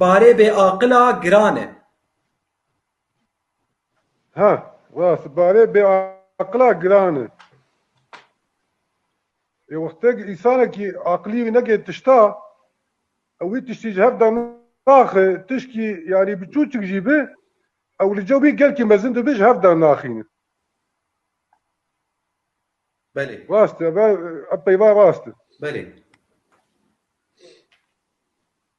barê bê aqila giran e. Ha, rast e, barê bê aqila giran e. Ê wextê ku însanekî aqilî wî neke tişta, ew wî tiştî ji hev de naxe, tişkî yanî biçûçik jî be, ew li cem wî gelkî mezin dibe ji hev de naxîne. Belê. Rast e, ev peyva rast e. Belê.